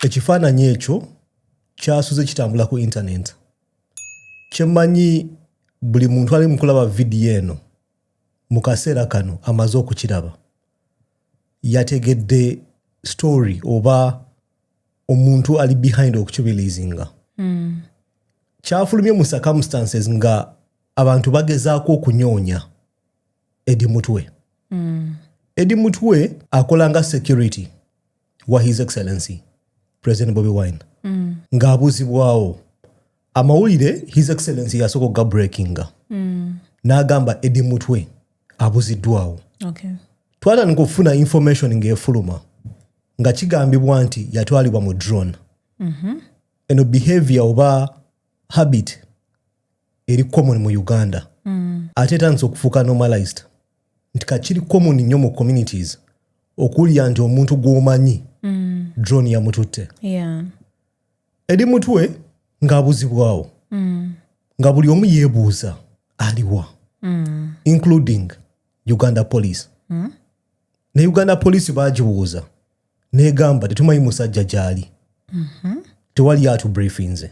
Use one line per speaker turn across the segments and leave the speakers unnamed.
ekifaananyi ekyo kyasuze kitambula ku intaneti kyemanyi buli muntu ali mukulaba vidiyo eno mu kaseera kano amaze okukiraba yategedde story oba omuntu ali behind okukibilizinga mm. kyafulumye mu circumstances nga abantu bagezaako okunyonya edi mutwe mm. edi mutwe akolanga security wa his excellency president bobi wine mm. ng'abuuzibwawo amawulire his excellency yasooka okuga breakinga mm. n'agamba edi mutwe abuziddwawo okay.
twatandika okufuna
information ng'efuluma nga kigambibwa nti yatwalibwa mu drone mm -hmm. eno behavior oba habit eri common mu uganda mm. ate etandisa okufuuka normalized nti kakiri common nnyo mu communities okuwulira nti omuntu gwomanyi mm. drone yamututte yeah.
eri
mutwe ng'abuzibwawo mm. nga buli omu yeebuuza aliwa mm. including uganda police mm? ne uganda police bagibuuza negamba tetumanyi musajja gyali mm -hmm. tewali atu briefinze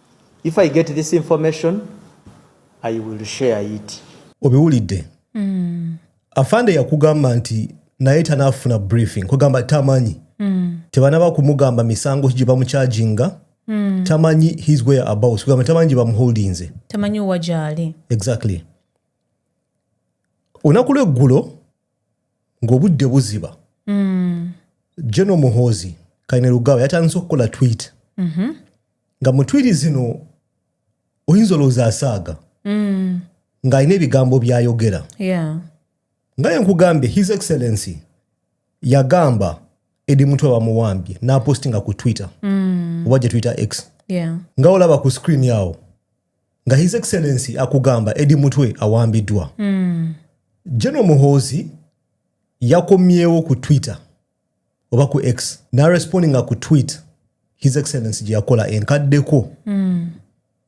If I get this information, I will share it. Obiwulidde.
Mm. Afande yakugamba nti naye tanafuna briefing kugamba tamanyi mm. tebanaba kumugamba misango gye bamukyajinga mm. tamanyi his way about kugamba tamanyi gye bamuholdinze tamanyi wajaali
exactly
olunaku lweggulo ng'obudde buziba mm. general muhoozi kaine lugawa yatandise okukola twit mm -hmm. nga mu twiti zino oyinza olowooza asaaga mm. ng'alina ebigambo byayogera yeah.
nga
yenkugambye his excellency yagamba edi mutwe bamuwambye napostinga ku twitter mm. oba gye twitter x yeah. nga olaba
ku screen
yawo nga his excellency akugamba edi mutwe awambiddwa mm. general muhoozi yakomyewo ku twitter oba ku x narespondinga ku tweet his excellency gye yakola enkaddeko mm.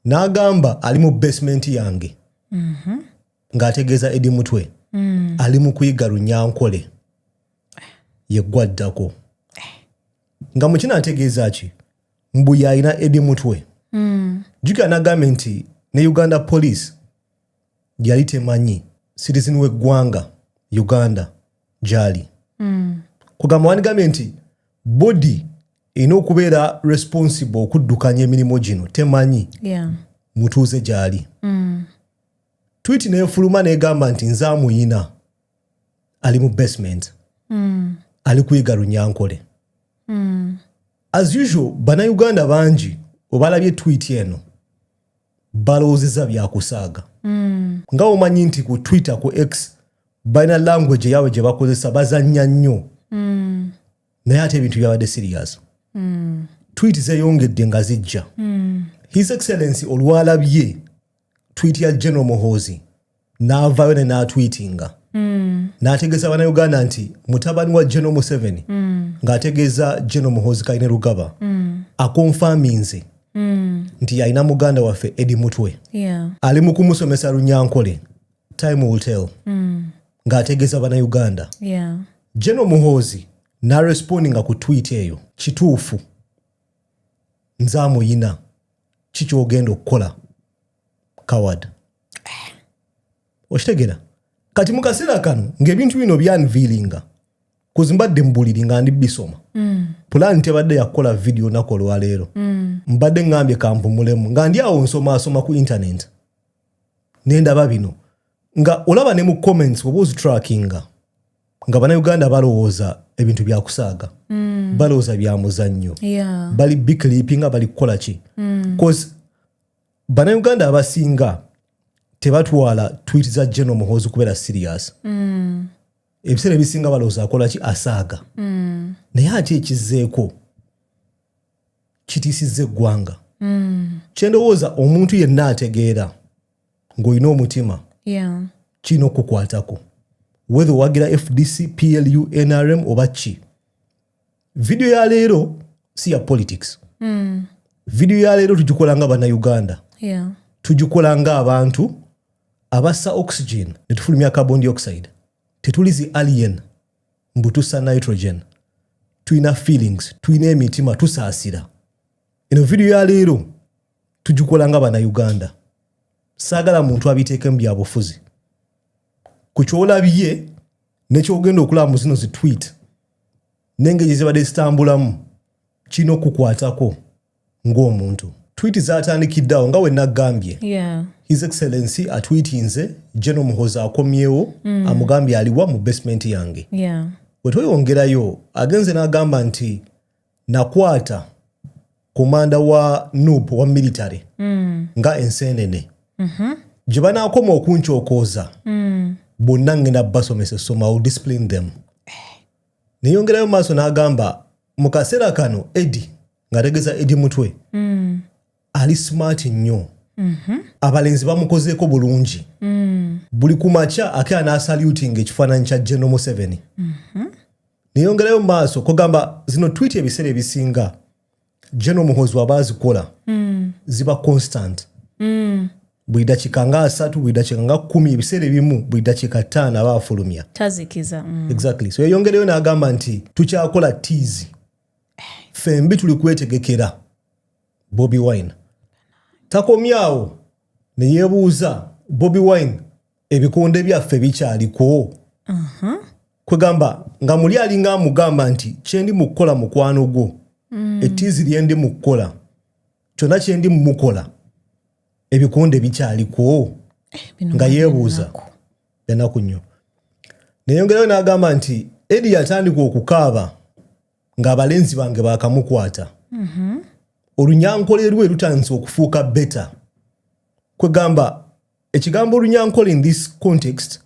n'agamba ali mu basement yange mm -hmm. ng'ategeeza edi mutwe mm. ali mu kuyiga runyankole yeggwaddako eh. nga mukino ategeeza ki mbu yalina edi mutwe mm. jukira nagambye nti ne uganda police yali temanyi citizen weggwanga uganda gyali mm. kugamba wandigambye nti bodi erina okubeera responsible okuddukanya emirimu gino temanyi yeah. mutuuze gyali mm. twiti nefuluma negamba nti nze amuyina ali mu basement mm. ali kuyiga runyankole mm. As usual bana Uganda bangi obalabye tweet eno balowoozeza byakusaaga mm. nga omanyi nti ku twitter ku x balina language yaabwe gye bakozesa bazannya nnyo mm. naye ate ebintu byabadde sirias mm. twit zeyongedde nga zijja mm. his excellency olwalabye twiti ya general muhoozi n'avaayo ne n'atwitinga mm. n'ategeeza bannayuganda nti mutabani wa general museveni mm. ng'ategeeza general muhoozi kaine lugaba mm. akonfaminze mm. nti alina muganda waffe edi mutwe yeah. ali mu kumusomesa lunyankole time will tell mm. ng'ategeeza bannayuganda yeah. general muhoozi n'arespondinga ku twiti eyo kituufu nze amuyina kikyogenda okukola coward okitegera kati mukaseera kano ngaebintu bino byanviilinga kuzi mbadde mubuliri nga ndi bisoma mm. pulaani tebadde yakukola vidiyo naku olwaleero mm. mbadde ngambye kampumulemu nga ndi awo nsomaasoma ku intaneti nendaba bino nga olaba ne mu comments oba ozitrackinga nga banauganda balowooza ebintu byakusaaga mm. balowooza byamuzannyo yeah. bali biclipinga bali kukola ki mm. bcause banauganda abasinga tebatwala twit za general muhoozi kubeera serious mm. ebiseera ebisinga balowooza akola ki asaaga mm. naye ate ekizzeeko kitiisizza eggwanga mm. kyendowooza omuntu yenna ategeera ng'olina omutima kirina okukukwatako wethe owagira fdc plu nrm oba ki vidiyo ya leero si ya politics mm. vidiyo ya leero tugikola nga bannayuganda yeah. tugikola nga abantu abassa oxygen ne tufulumya carbon dioxide tetuli zi alien mbu tussa nitrogen tulina feelings tulina emitima tusaasira eno vidiyo ya leero tugikola nga banauganda saagala muntu abiteeke mu byabufuzi ku kyolabye nekyogenda okulaba mu zino zitwit nengeri zibadde zitambulamu kirina okukwatako ng'omuntu twiti zatandikiddeawo nga wenagambye his excellency atwitinze geno muhoza akomyewo mm. amugambye aliwa mu basement yange wetweyongerayo agenze n'agamba nti nakwata komanda wa nup wa military mm. nga ensenene mm -hmm. gye banaakoma okunkyokooza mm. bonna ngenda basomesa essoma will discipline them eh. neyongerayo maaso n'agamba mu kaseera kano edi ngategeza edi mutwe mm. ali smart nnyo mhm. abalenzi bamukozeeko bulungi mm. buli ku makya ake anaasalutinga ekifaananyi kya general museveni mhm. neyongerayo mu maaso kugamba zino twiti ebiseera ebisinga general muhozi waba azikola mm. ziba constant mm. buli dakiika nga asatu buli dakiika nga kumi ebiseera ebimu buli dakiika ttaano aba afulumya tazikiza mm.
exactly so
yeyongereyo n'agamba nti tukyakola tiizi eh. fembi tuli kwetegekera bobi wine takomyawo neyebuuza bobi wine ebikonde byaffe bikyaliko uh-huh. kwegamba nga muli alinga amugamba nti kyendi mukukola mukwano gwo mm. etiizi lyendi mukukola kyonna kyendi mumukola ebikonde bikyaliko eh, nga yebuuza enaku nnyo neyongerayo nagamba nti edi yatandika okukaaba ng'abalenzi bange baakamukwata mhm. olunyankole lwe lutandise okufuuka beta kwegamba ekigambo olunyankole in this context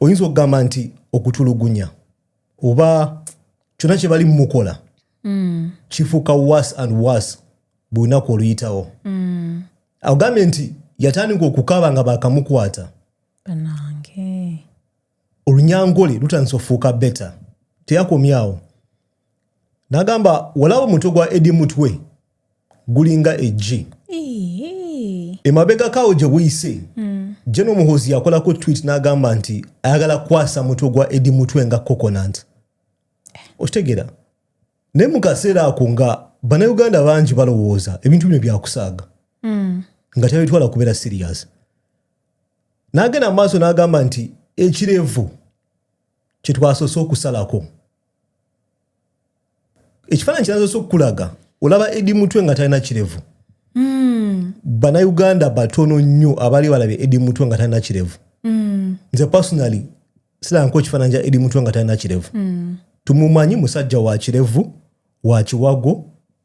oyinza okugamba nti okutulugunya oba kyonna kye bali mumukola mm. kifuuka was and was buli lunaku oluyitawo mm. agambye nti yatandika okukaaba nga baakamukwata olunyangole lutandise ofuuka beta teyakomyawo nagamba walawo omutwe gwa edi mutwe gulinga egi emabegakawo gye buyise hmm. jeno omuhozi yakolako twit nagamba nti ayagala kukwasa mutwe gwa edi mutwe nga coconant eh. okitegeera naye mu kaseera ako nga banauganda bangi balowooza ebintu bino byakusaaga hmm. nga tabitwala kubeera sirias n'agenda mu maaso n'agamba nti ekirevu kye twasoose okusalako ekifaananyi kinasoose okukulaga olaba edi mutwe nga talina kirevu hmm. banauganda batono nnyo abali balabye edi mutwe nga talina kirevu hmm. nze personally silanko ekifaananyi kya edi mutwe nga talina kirevu hmm. tumumanyi musajja wa kirevu wa kiwago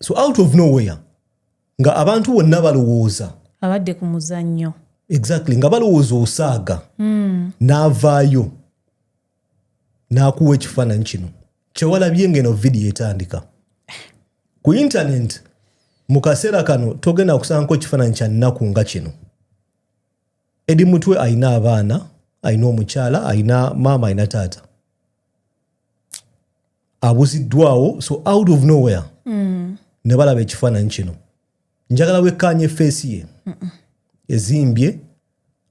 so out of nowhere nga abantu bonna balowooza abadde ku
muzannyo exactly nga
balowooza osaaga mm. n'avaayo n'akuwa ekifaananyi kino kyewalabye ngeno vidiyo etandika ku intaneti mu kaseera kano togenda kusangaku ekifaananyi kya nnaku nga kino edi mutwe alina abaana alina omukyala alina maama alina taata abuziddwawo so out of nowhere mm. ne balaba ekifaananyi kino njagala wekkaanya efeesi ye ezimbye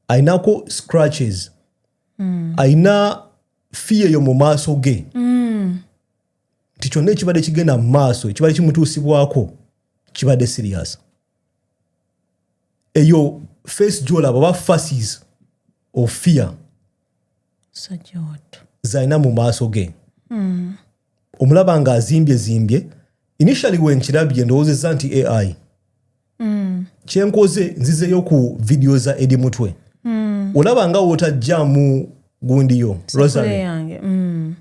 alinako scratches mm. alina fiya eyo mu maaso ge mm. nti kyonna ekibadde kigenda mu maaso ekibadde kimutuusibwako kibadde sirias eyo face gyolaba oba faces of fear zalina mu maaso ge hmm. omulaba nga azimbye zimbye initially wenkirabye ndowoozezza nti ai hmm. kyenkoze nzizeyo ku vidiyo za edi mutwe hmm. olaba nga wotajjamu gundiyo rosary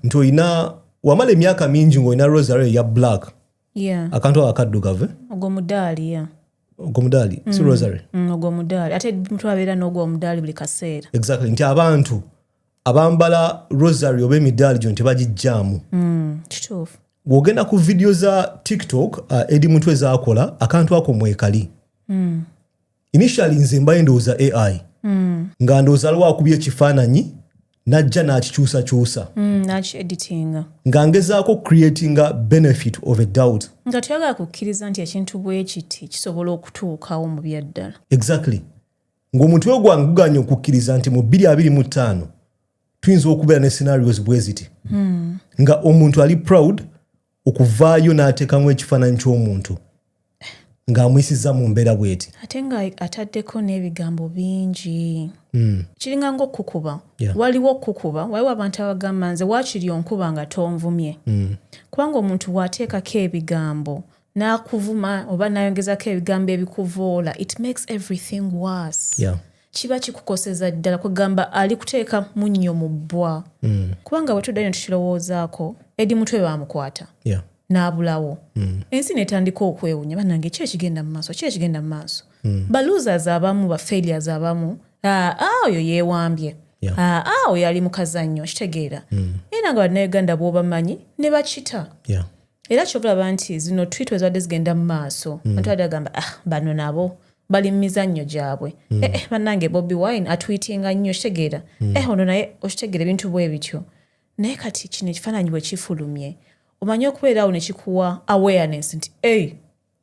nti olina wamala emyaka mingi ngaolina rosary ya black yeah. akantu awo akaddugavu eh? ogwo mudaali yeah. ogwo mudaali mm. si rosary mm, ogwo mudaali ate
mutwe abeera n'ogwo mudaali buli kaseera exactly nti abantu
abambala rosary oba emidaali gyo nti bagijjaamu mm, kituufu
bw'ogenda ku
vidiyo za tiktok uh, edi mutwe zaakola akantu ako mwekali mm. initially nze mbaye ndowooza ai mm. nga ndowooza aliwo akubya ekifaananyi najja n'akikyusakyusa mm, nakieditinga
nga ngezaako
creatinga benefit of a doubt nga tuyagala kukkiriza
nti ekintu bwekiti kisobola okutuukawo mu byaddala exactly
ng'omuntu we gwange guganye okukkiriza nti mu bbiri abiri mu ttaano tuyinza okubeera ne scenarios bweziti mm. nga omuntu ali proud okuvaayo n'ateekamu ekifaananyi ky'omuntu ng'amuyisiza mu mbeera bweti ate nga ataddeko
n'ebigambo bingi hmm. kiringa nga okukuba waliwo okukuba waliwo abantu abagamba nze waakiri onkuba nga tonvumye hmm. kubanga omuntu waateekako ebigambo n'akuvuma oba n'ayongezako ebigambo ebikuvoola it makes everything worse kiba kikukoseza ddala kwegamba ali kuteeka munnyo mu bbwa mm. kubanga bwe tuddayo ne tukirowoozaako edi mutwe baamukwata yeah. n'abulawo mm. ensi netandika okwewunya banange ki ekigenda mu maaso ki ekigenda mu maaso mm. balosers abamu ba failures abamu aa ah, ah, oyo yeewambye yeah. aa ah, oyo ali mu kazannyo kitegeera mm. era nga banauganda bwobamanyi ne bakita yeah. era kyobalaba nti zino twit ezibadde zigenda mu maaso mm. antu badde agamba ah bano nabo bali mu mizannyo gyabwe mm. eh, eh, bannange bobi wine atwitinga nnyo okitegeera mm. eh, ono naye okitegeera ebintu bwe bityo naye kati kino ekifaananyi bwe kifulumye omanyi okubeeraawo ne kikuwa awareness nti ei hey,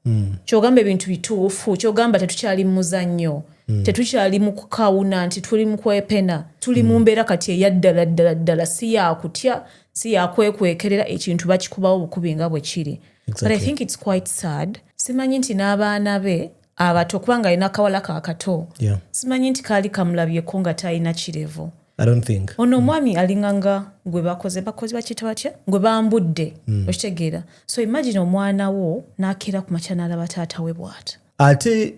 mm. kyogamba ebintu bituufu kyogamba tetukyali muzannyo mm. tetukyali mu kukawuna nti tuli mu kwepena tuli mu mm. mbeera kati eyaddala ddala ddala si yakutya si yakwekwekerera ekintu bakikubawo bukubi nga bwe kiri exactly. but i think its quite sad simanyi nti n'abaana be abato kubanga alina akawala kakato yeah. simanyi nti kaali kamulabyeko nga talina kirevu ono
omwami alinganga
gwe bakoze bakozi bakiyita batya gwe bambudde hmm. okitegeera so imagine omwana wo nakeera ku makya nalaba taata we bwata ate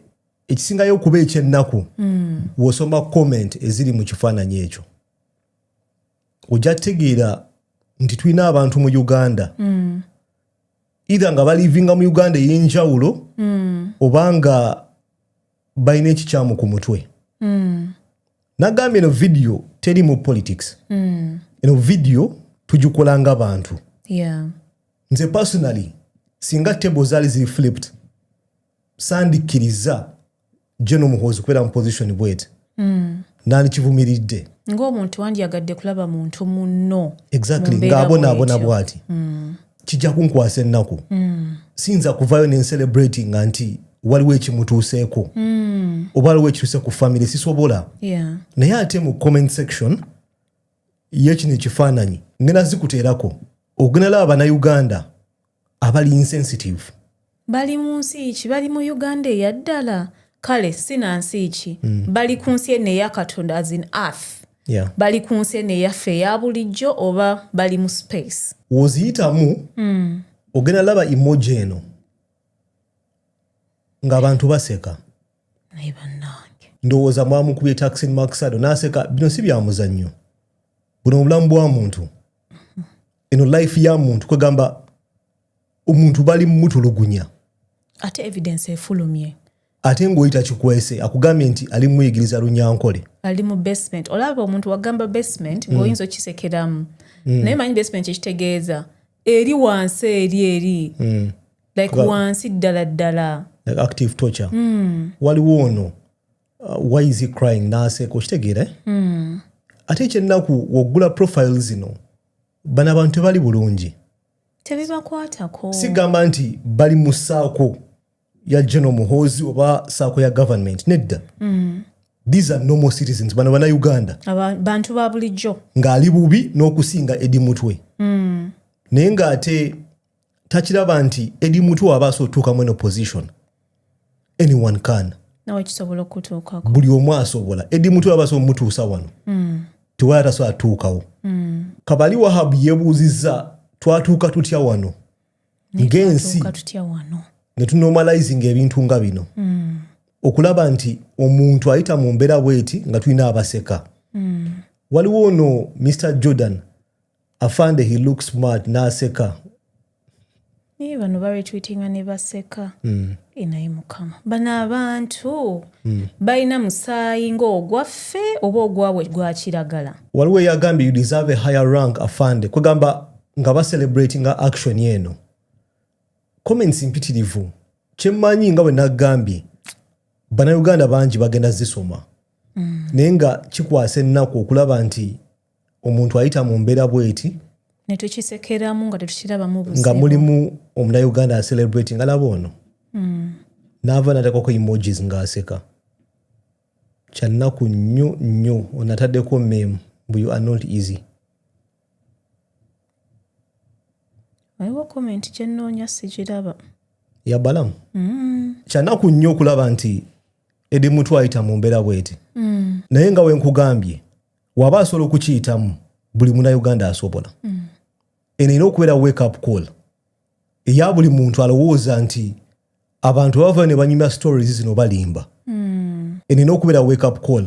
ekisingayo okuba ekyennaku hmm. wosoma comment eziri mu kifaananyi ekyo ojja tegeera nti tulina abantu mu uganda hmm. either nga balivinga mu uganda ey'enjawulo obanga balina ekikyamu ku mutwe mm. nagambye eno vidiyo terimu politics mm. eno vidiyo tugikola nga bantu yeah. nze personally singa table zaali ziri flipped sandikkiriza gye nomuhoozi kubeera mu position bwet mm. nandikivumiridde ngaomuntu
wandyagadde kulaba muntu munno exactly
ngaabonaabona bwati mm. kijja kunkwasa ennaku mm. siyinza kuvayo nencerebratinga nti waliwo ekimutuuseeko mm. oba waliwo ekituuse ku famiry sisobola yeah. naye ate mu comment section yekino ekifaananyi ngena zikuteerako ogenalaba banauganda abali insensitive bali mu
nsi ki bali mu uganda eyaddala kale si na nsi ki mm. bali ku nsi eno eya katonda as in earth yeah. bali ku nsi eno eyaffe eya bulijjo oba bali mu space woziyitamu mm.
ogenda laba emoji eno ng'abantu baseka naye
bannange ndowooza mwamukubye
taxin maxado n'aseka bino si byamuzannyo buno obulamu bwa muntu eno life ya muntu kwegamba omuntu bali mutulugunya ate
evidence efulumye ate ng'oyita
kikwese akugambye nti ali muyigiriza lunyankole ali mu basement
olaba omuntu wagamba basement mm. ng'oyinza okisekeramu mm. naye manyi basement kyekitegeeza eri wansi eri eri mm. like wansi ddala ddala active torture
mm. waliwo ono uh, why is he crying naseeka okitegeera eh? mm. ate ekyennaku woggula profile zino bano abantu tebali bulungi tebibakwatako
sigamba nti
bali mu saako ya general muhoozi oba saako ya government nedda mm. these are normal citizens bano bana uganda bantu ba
bulijjo ng'ali bubi
n'okusinga edi mutwe mm. naye ng'ate takiraba nti edi mutu aba asobola otuukamu eno position anyone can
buli omu asobola
edi mutu aba asobola omutuusa wano mm. tewali atasobola atuukawo mm. kabali wahabu yebuuzizza twatuuka tutya wano ng'ensi ne tunormalizing ebintu nga bino mm. okulaba nti omuntu ayita mu mbeera bweti nga tulina abaseka mm. waliwo ono mr jordan afande he looks smart naseka
naye bano baretweetinga ne baseka mm. enaye mukama bano abantu mm. balina musaayi ngaogwaffe oba ogwabwe gwakiragala waliwo eyagambye you
deserve a higher rank afande kwegamba nga bacelebratinga action eno comments mpitirivu kyemmanyi nga bwe nagambye banauganda bangi bagenda zisoma mm. naye nga kikwasa ennaku okulaba nti omuntu ayita mu mbeera bweti netukisekeramu
nga tetukirabamu nga mulimu
omunauganda acelebrati nga laba ono mm. naava natekako emojis ngaaseka kyannaku nnyo nnyo onataddeko mem bu you are not easy
waliwo komenti kyenoonya sikiraba yabalamu
mm. kyanaku nnyo okulaba nti edi mutu ayita mu mbeera bweti mm. naye nga wenkugambye waba asobola okukiyitamu buli munauganda asobola mm. eno erina okubeera wake up call eya buli muntu alowooza nti abantu bavayo ne banyumya stories zino balimba mm. eno erina okubeera wake up call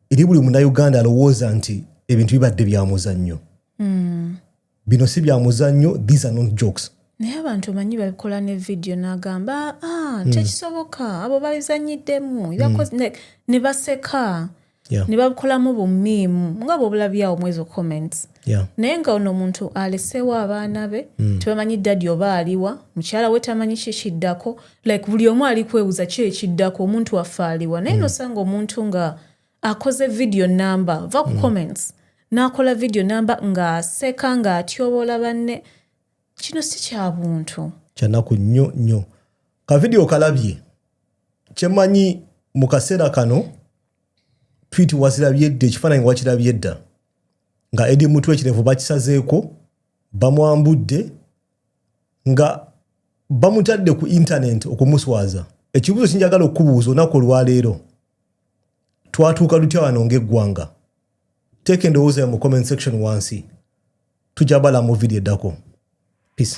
eri buli munauganda alowooza nti ebintu bibadde byamuzannyo mm. bino si bya muzannyo these are not jokes naye abantu omanyi
babikola ne vidiyo nagamba ah, hmm. tekisoboka abo babizanyiddemu hmm. ne baseka ne babikolamu bumiimu nga bwobulabyawo mwezo comments naye nga ono omuntu aleseewo abaana be hmm. tebamanyi dadi oba aliwa mukyala we tamanyi kyekiddako like buli omu ali kwebuza ki ekiddako omuntu waffe aliwa naye nosanga omuntu nga akoze video namba va ku mm. comments n'akola video namba ng'aseka ng'atyoboola banne kino si kya buntu kyanaku nnyo
nnyo ka video kalabye kyemanyi mu kaseera kano twit wazirabye dda ekifaananyi wakirabye dda nga edi mutwe ekirevu bakisazeeko bamwambudde nga bamutadde ku intaneti okumuswaza ekibuuzo kinjagala okukubuuza olunaku olwaleero twatuuka tutya wano ng'eggwanga teeka endowooza mu comment section wansi tujja bala mu vidiyo eddako peace